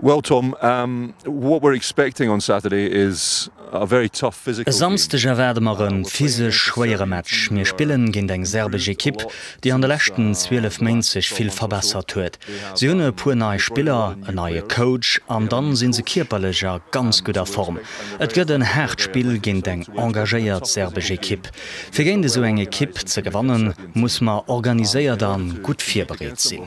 Well Tom, what we're expecting on Saturday is a very tough physical game. E Samsdeg erwaarde mer e physesch schwéiere Match. Mir spillen géint eng serbesch Ekipp, déi an de leschten 12 Méint sech vill verbessert huet. Si hunn e puer nei Spiller, en neie Coach an dann sinn se kierperlech a ganz gudder Form. Et gëtt en haart Spill géint eng engagéiert serbesch Ekipp. Fir géint esou eng Ekipp ze gewannen, muss mer organiséiert an gutt virbereet sinn.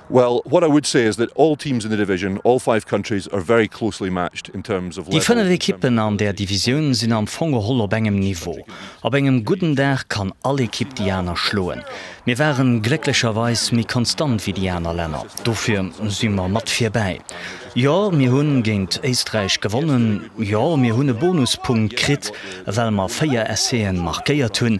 Well, what I would say is that all teams in the division, all five countries, are very closely matched in terms of level. Déi fënnef Ekippen an där Divisioun sinn am Fong geholl op engem Niveau. Op engem gudden Dag kann all Ekipp déi aner schloen. Mir waren glécklecherweis méi konstant wéi déi aner Länner, dofir si mer mat virbäi. Jo, mir hu géint Éisträich gewonnen. Jo, mir hunn e Bonuspunkt kritt, well mer véier Essai'en markéiert hunn.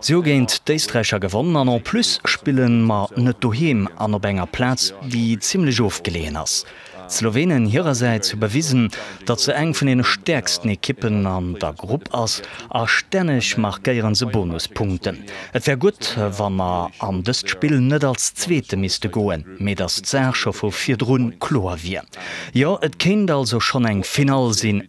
Si hu géint d'Éisträicher gewonnen an en plus spille mer net doheem an op enger Plaz, déi zimlech ofgeleeën ass. D'Slowenen hirersäits hu bewisen, datt se eng vun deene stäerksten Ekippen an der Grupp ass a stänneg markéiere se Bonuspunkten. Et wär gutt, wa mer an dëst Spill net als Zweete misste goen, mee datt d'Saach scho vu virdrun kloer wier. Jo, et kéint also schonn eng Finall sinn.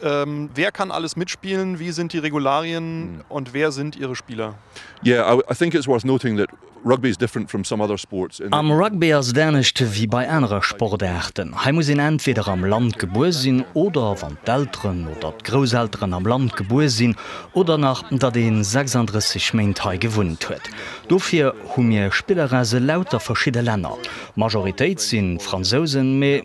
Wer kann alles mitspielen? Wie sind die Regularien und wer sind ihre Spieler? Am Rugby ass et anescht wéi bei anere Sportaarten. Hei muss een entweder am Land gebuer sinn oder, wann d'Elteren oder d'Grousselteren am Land gebuer sinn, oder nach datt ee 36 Méint hei gewunnt huet. Dofir hu mir Spilleresse lauter verschidde Länner. D'Majoritéit si Fransousen, mee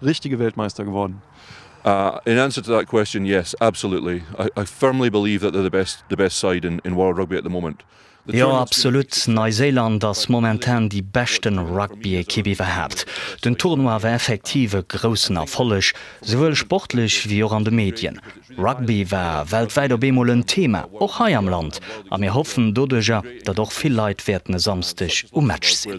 Richtige Weltmeister geworden. In answer to that question, yes, absolutely. I firmly believe that they're the best, the best side in in world rugby at the moment. Jo, absolut. Neiséiland ass momentan déi beschten Rugby-Ekipp iwwerhaapt. Den Tournoi war effektiv e groussen Erfolleg, souwuel sportlech wéi och an de Medien. Rugby war weltwäit op eemol en Thema, och hei am Land, a mir hoffen doduerjer, datt och vill Leit wäerten e Samsdeg um Match sinn.